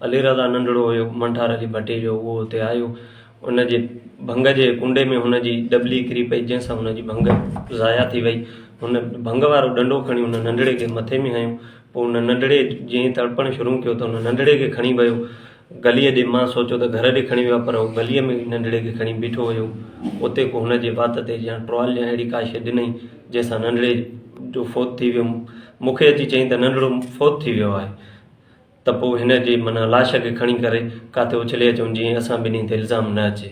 علي رضا ننڍڙو هيو، منٺار علي ڀٽي جو، اهو اتي آيو، ان جي ڀنگ جي ڪنڊي ۾ هن جي ڏٻلي ڪري پئي، جنهن سان هن جي ڀنگ ضايع ٿي وئي، هن ڀنگ وارو ڏنڊو کڻي ان ننڍڙي کي مٿي ۾ هنيو، پوء ان ننڍڙي جئين ئي تڙپڻ شروع ڪيو ته ان ننڍڙي کي کڻي ويو گليء ڏي، مان سوچيو ته گهر ڏي کڻي ويو آهي، پر هو گليء ۾ ننڍڙي کي کڻي بيٺو هيو، اتي ڪو هن جي وات تي جيان ٽوال يا اهڙي ڪا شيء ڏنئين، جنهن سان ننڍڙي جو فوت ٿي ويو، مون کي اچي چئين ته ننڍڙو فوت ٿي ويو آهي. ته پوء هن جي معنيٰ لاش کي کڻي ڪري ڪاٿي اڇلي اچون جيئن اسان ٻنهي تي الزام نه اچي.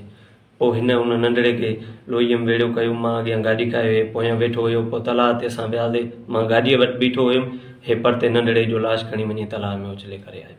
پوء هن ان ننڍڙي کي لوهيم ويڙهيو ڪيو. مان اڳيان گاڏي ڪاهي هي پويان ويٺو هيو. پوء تلاء تي اسان وياسي. مان گاڏيء وٽ بيٺو هيم. هي پرتي ننڍڙي جو لاش کڻي وڃي تلاء ۾ اڇلي ڪري آيو.